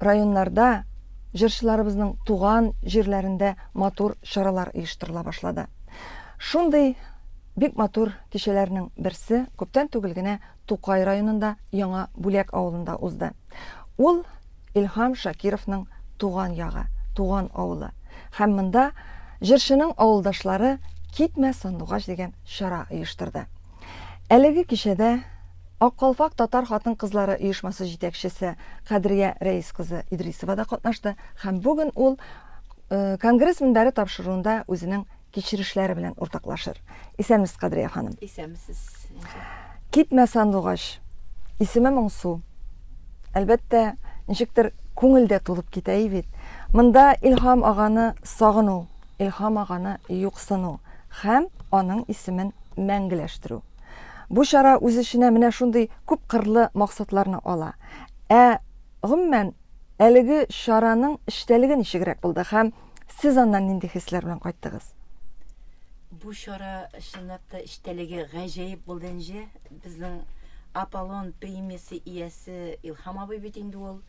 районнарда, җырчыларыбызның туган җирләрендә матур чаралар оештырыла башлады. Шундый бик матур кичәләрнең берсе күптән түгел генә Тукай районында Яңа Бүләк авылында узды. Ул Илһам Шакировның туган ягы, туган авылы. Һәм монда җырчының авылдашлары Китмә сандугач дигән чара оештырды. Әлеге кичәдә Ак калфак татар хатын-кызлары оешмасы җитәкчесе Кадрия Рәис кызы Идрисова да катнашты һәм бүген ул э, конгресс мөнбәре тапшыруында үзенең кичерешләре белән уртаклашыр. Исәнмесез, Кадрия ханым. Исәнмесез. Китмә сандугач. Исеме моңсу. Әлбәттә, ничектер күңелдә тулып китә бит. Монда Илһам аганы сагыну Илһам аганы юксыну һәм аның исемен мәңгеләштерү. Бу чара үз эченә менә шундый күпкырлы максатларны ала. Ә, гомумән, әлеге чараның эчтәлеге ничегрәк булды һәм сез аннан нинди хисләр белән кайттыгыз? Бу чара, чынлап та, эчтәлеге гаҗәеп булды, энҗе. Безнең Аполлон премиясе иясе Илһам абый бит инде ул.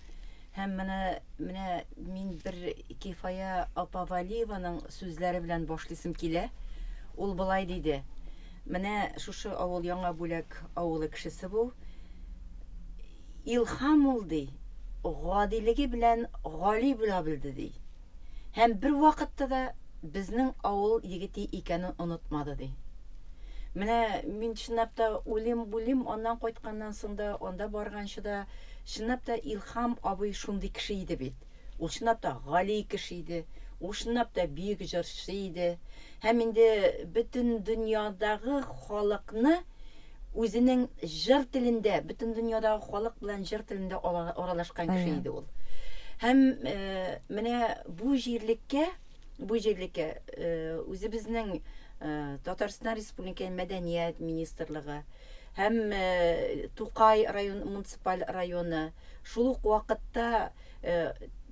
Һәм менә, менә мин бер Кифая апа Вәлиеваның сүзләре белән башлыйсым килә. Ул болай диде, Менә шушы авыл Яңа Бүләк авылы кешесе бу. Илһам ул, ди, гадилеге белән гали була белде, ди. Һәм бервакытта да безнең авыл егете икәнен онытмады, ди. Менә мин чынлап та уйлыйм-уйлыйм, аннан кайтканнан соң да, анда барганчы да, чынлап та Илһам абый шундый кеше иде бит. Ул чынлап та гали кеше иде, ул чынлап та бөек җырчы иде. Һәм инде бөтен дөньядагы халыкны Үзенең җыр телендә, бөтен дөньядагы халык белән җыр телендә аралашкан кеше иде ул. Һәм э, менә бу җирлеккә, бу җирлеккә э, үзебезнең э, Татарстан Республикасы мәдәният министрлыгы һәм Тукай район муниципаль районы шул ук вакытта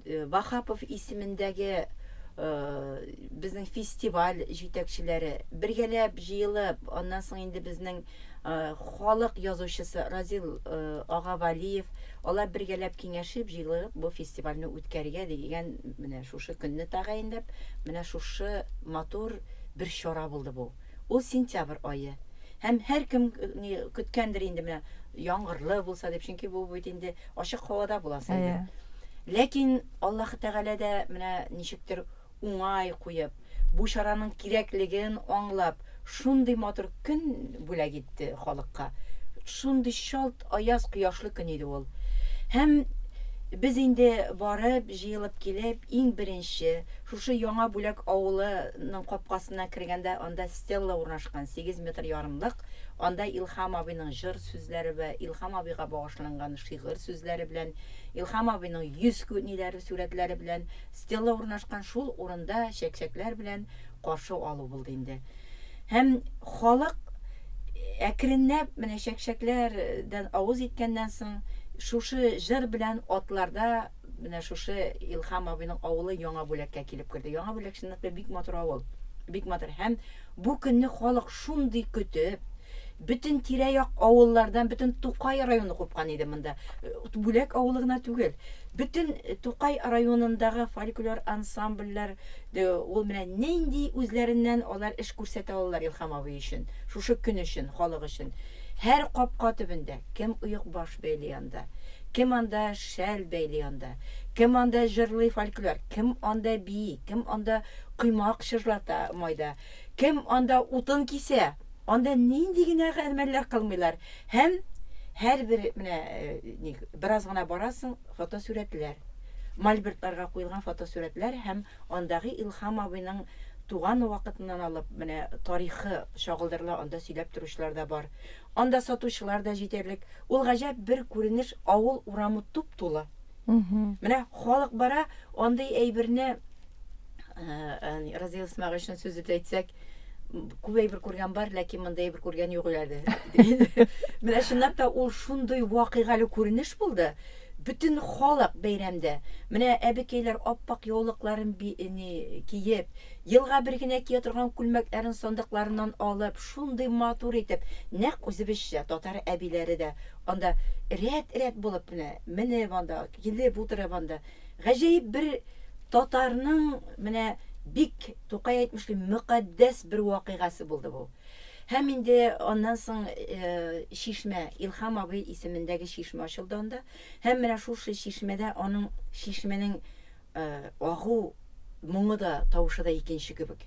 Ваһапов исемендәге безнең фестиваль җитәкчеләре бергәләп җыелып, аннан соң инде безнең халык язучысы Разил ага Валиев, алар бергәләп киңәшеп, җыелып бу фестивальне үткәрергә дигән менә шушы көнне тәгаенләп, менә шушы матур бер чара булды бу. Ул сентябрь ае. Һәм һәркем көткәндер инде менә яңгырлы булса дип, чөнки бу бит инде Ачык һавада буласы иде. Әйе. Ләкин Аллаһы Тәгалә дә менә ничектер уңай куеп, бу чараның кирәклеген аңлап, шундый матур көн бүләк итте халыкка. Шундый чалт аяз кояшлы көн иде ул. Һәм без инде барып, җыелып килеп, иң беренче, шушы Яңа Бүләк авылының капкасына кергәндә, анда стелла урнашкан, сигез метр ярымлык, анда Илһам абыйның җыр, сүзләре вә Илһам абыйга багышланган шигырь сүзләре белән, Илһам абыйның йөз күниләре сурәтләре белән стела урнашкан шул урында чәкчәкләр белән каршы алу булды инде. Һәм халык әкренләп менә чәкчәкләрдән авыз иткәннән соң шушы җыр белән атларда менә шушы Илһам абыйның авылы Яңа бүләккә килеп керде. Яңа бүләк чынлыкта бик матур авыл, бик матур һәм Бу көнне халык шундый көтеп, бөтен тирә-як авыллардан, бөтен Тукай районы купкан иде монда. Бүләк авылы гына түгел, бөтен Тукай районындагы фольклор ансамбльләр дә ул менә нинди үзләреннән алар эш күрсәтә алалар Илһам абый өчен, шушы көн өчен, халык өчен. Һәр капка төбендә, кем оекбаш бәйли анда, кем анда шәл бәйли анда, кем анда җырлый фольклор, кем анда бии, кем анда Коймак чыжлата майда. Кем анда утын кисә? Анда нинди генә гамәлләр кылмыйлар. Һәм һәрбер менә ник бераз гына барасың, фотосурәтләр. Мольбертларга куелган фотосурәтләр һәм андагы Илһам абыйның туган вакытыннан алып менә тарихы чагылдырыла, анда сөйләп торучылар да бар. Анда сатучылар да җитәрлек. Ул гаҗәп бер күренеш, авыл урамы туп-тулы. Менә халык бара, андый әйберне Э, Разил Исмәгыйшин сүз итә әйтсәк, күп әйбер күргән бар, ләкин монда әйбер күргән юк әле. Менә чынлап та ул шундый вакыйгалы күренеш булды. Бөтен халык бәйрәмдә. Менә әбекәйләр аппак яулыкларын киеп, елга бер генә кия торган күлмәкләрен сандыкларыннан алып, шундый матур итеп, нәкъ үзебезчә татар әбиләре дә Анда рәт-рәт булып менә менеп анда, килеп утырып анда, гаҗәеп бер татарның менә бик Тукай әйтмешли мөкатдәс бер вакыйгасы булды бу. Һәм инде аннан соң чишмә, Илхам абый исемендәге чишмә ачылды анда. Һәм менә шушы чишмәдә аның чишмәнең Э, агу моңы да, тавышы да икенче кебек.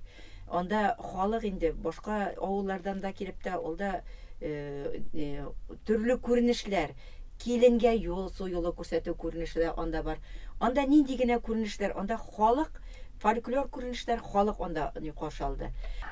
Анда халык инде башка авыллардан да килеп тә, ул да э, э, төрле күренешләр, киленгә юл, су юлы күрсәтү күренеше дә анда бар. Анда нинди генә күренешләр, анда халык, фольклор күренешләр, халык анда ни каршы алды.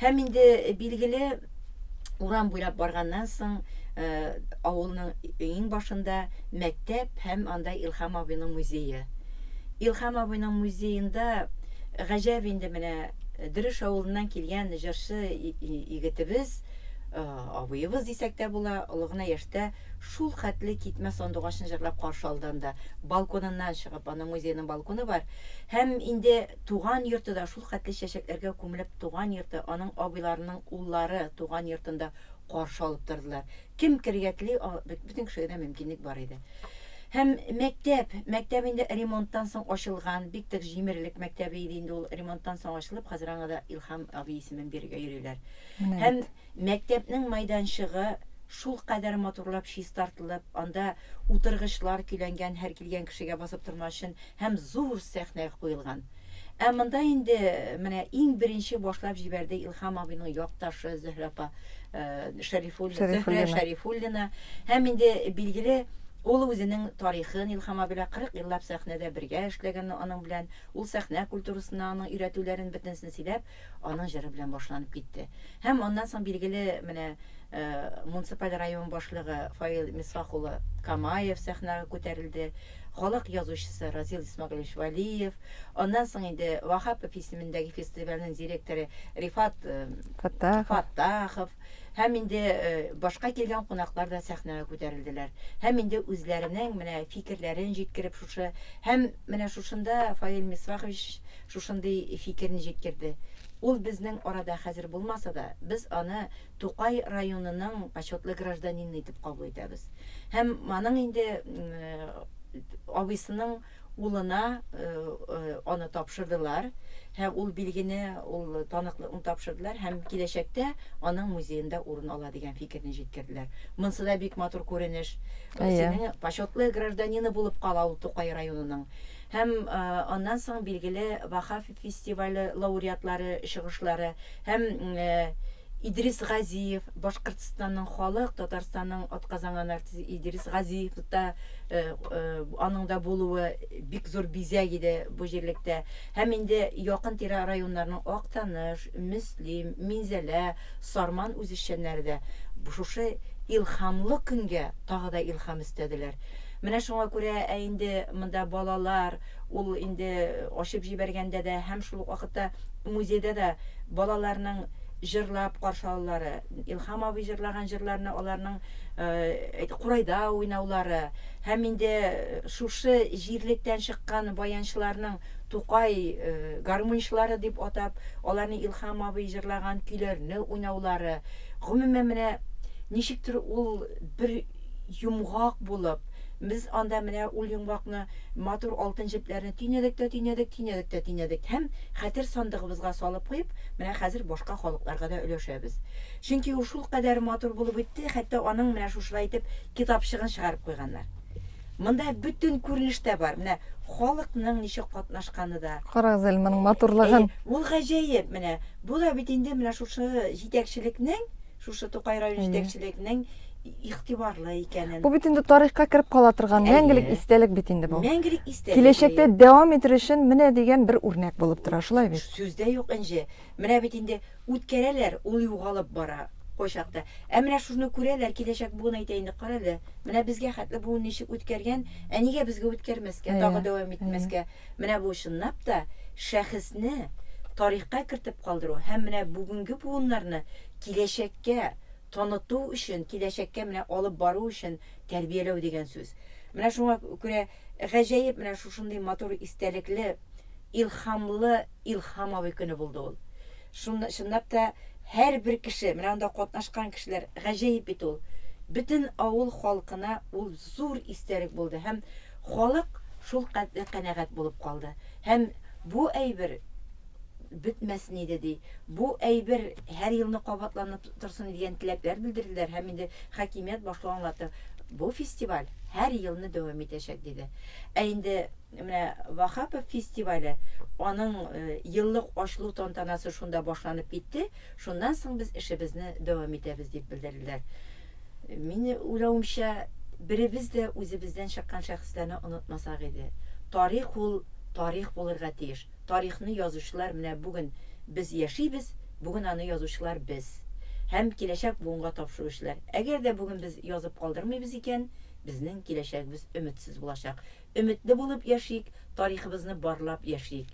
Һәм инде билгеле урам буйлап барганнан соң, э, авылның иң башында мәктәп һәм анда Илхам абыйның музее. Илхам абыйның музеенда гаҗәп инде менә э, Дөреш авылыннан килгән җырчы егетебез, э, абыебыз дисәк тә була, олы гына яшьтә шул хәтле китмә сандугачын җырлап каршы алды анда, балконыннан чыгып, аның музейның балконы бар. Һәм инде туган йорты да шул Хәтле чәчәкләргә күмелеп туган йорты, аның абыйларының уллары туган йортында каршы алып тордылар. Кем керергә тели, бөтен кешегә дә мөмкинлек бар иде. Һәм мәктәп, мәктәп инде ремонттан соң ачылган, бик тык җимерлек мәктәбе иде инде ул, ремонттан соң ачылып, хәзер аңа да Илһам абый исемен бирергә йөриләр. Һәм Мәктәпнең майданчыгы шулкадәр матурлап чистартылып, анда утыргычлар көйләнгән, һәр килгән кешегә басып торма өчен, һәм зур сәхнә куелган. Ә монда инде менә иң беренче башлап җибәрде Илһам абыйның якташы Зөһрә апа Шәрифуллина, Зөһрә Шәрифуллина. Һәм инде билгеле, ул үзенең тарихын Илһам абый белән 40 еллап сәхнәдә бергә эшләгән аның белән, ул сәхнә культурасына, аның өйрәтүләрен бөтенесен сөйләп, Аның җыры белән башланып китте. Һәм аннан соң билгеле менә э, муниципаль район башлыгы Фаил Мисфах улы Камаев сәхнәгә күтәрелде. Халык язучысы Разил Исмагилевич Валиев. Аннан соң инде Вахапов исемендәге фестивальнең директоры Рифат э, Фаттахов. Фаттахов. Һәм инде башка килгән кунаклар да сәхнәгә күтәрелделәр. Һәм инде үзләренең менә фикерләрен җиткереп шушы һәм менә шушында Фаил Мисфахович шушындый фикерен җиткерде. Ул безнең арада хәзер булмаса да, без аны Тукай районының почетлы гражданины итеп кабул итәбез. Һәм аның инде абыйсының Улына аны тапшырдылар һәм ул билгене, ул таныклыкны тапшырдылар һәм киләчәктә аның музеенда урын ала дигән фикерне җиткерделәр. Монсы да бик матур күренеш. Синең почетлы гражданины булып кала ул Тукай районының. Һәм аннан соң билгеле Ваһап фестивале лауреатлары чыгышлары һәм Идрис Газиев, Башкортстанның халык, Татарстанның атказанган артисты Идрис Газиев та аның да булуы бик зур бизәк иде бу җирлектә. Һәм инде якын-тирә районнарның Актаныш, Мөслим, Минзәлә, Сарман үзешчәннәре дә шушы илһамлы көнгә тагы да илһам өстәделәр. Менә шуңа күрә, ә инде монда балалар, Ул инде ачып җибәргәндә дә һәм шул ук вакытта музейда да балаларның җырлап каршы алулары, Илһам абый җырлаган җырларны аларның курайда уйнаулары һәм инде шушы җирлектән чыккан баянчыларның Тукай гармунчылары дип атап, аларның Илһам абый җырлаган көйләрне уйнаулары, гомумән, менә ничектер ул бер йомгак булып, Без анда менә ул йомгакны, матур алтын җепләрне төйнәдек тә төйнәдек, төйнәдек тә төйнәдек һәм хәтер сандыгыбызга салып куеп, менә хәзер башка халыкларга да өләшәбез. Чөнки ул шулкадәр матур булып үтте, хәтта аның менә шушылай итеп китапчыгын чыгарып куйганнар. Монда бөтен күренеш тә бар. Менә халыкның ничек катнашканы да. Карагыз әле моның матурлыгын. Әйе, ул гаҗәеп менә. Бу да бит инде менә шушы җитәкчелекнең, шушы Тукай районы җитәкчелекнең игътибарлы икәнен. Бу бит инде тарихка кереп кала торган мәңгелек истәлек бит инде бу. Мәңгелек истәлек. Киләчәктә дәвам итер өчен менә дигән бер үрнәк булып тора, шулай бит? Сүз дә юк, Энҗе. Менә бит инде үткәрәләр, ул югалып бара кайчакта. Ә менә шуны күрәләр, киләчәк буын әйтә инде, кара әле, менә безгә хәтле буын ничек үткәргән, ә нигә безгә үткәрмәскә, тагы дәвам итмәскә? Менә бу чынлап та шәхесне тарихка кертеп калдыру һәм менә бүгенге буыннарны киләчәккә таныту өчен, киләчәккә менә алып бару өчен тәрбияләү дигән сүз. Менә шуңа күрә гаҗәеп менә шушындый матур истәлекле, илһамлы Илһам абый көне булды ул. Шун, чынлап та, һәрбер кеше, менә анда катнашкан кешеләр, гаҗәеп бит ул. Бөтен авыл халкына ул зур истәлек булды һәм халык шулкадәр канәгать булып калды. Һәм бу әйбер бетмәсен иде, ди. Бу әйбер һәр елны кабатланып торсын дигән теләкләр белдерделәр һәм инде хакимият башлыгы аңлатты, бу фестиваль һәр елны дәвам итәчәк, диде. Ә инде менә Ваһапов фестивале, аның еллык ачылу тантанасы шунда башланып китте, шуннан соң без эшебезне дәвам итәбез, дип белдерделәр. Минем уйлавымча, беребез дә үзебездән чыккан шәхесләрне онытмасак иде. Тарих ул тарих булырга тиеш. тарихны язучылар менә бүген без яшибез, бүген аны язучылар без. Һәм киләчәк буынга тапшыру эшләр. Әгәр дә бүген без язып калдырмыйбыз икән, безнең киләчәгебез өметсез булачак. Өметле булып яшик, тарихыбызны барлап яшик.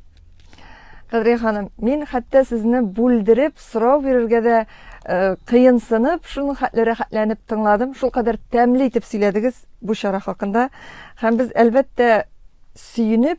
Кадрия ханым, мин хәтта сезне бүлдереп, сорау бирергә дә э, кыенсынып, шуның хәтле рәхәтләнеп тыңладым. Шул кадәр тәмле итеп сөйләдегез бу чара хакында. Һәм без, әлбәттә, сөенеп,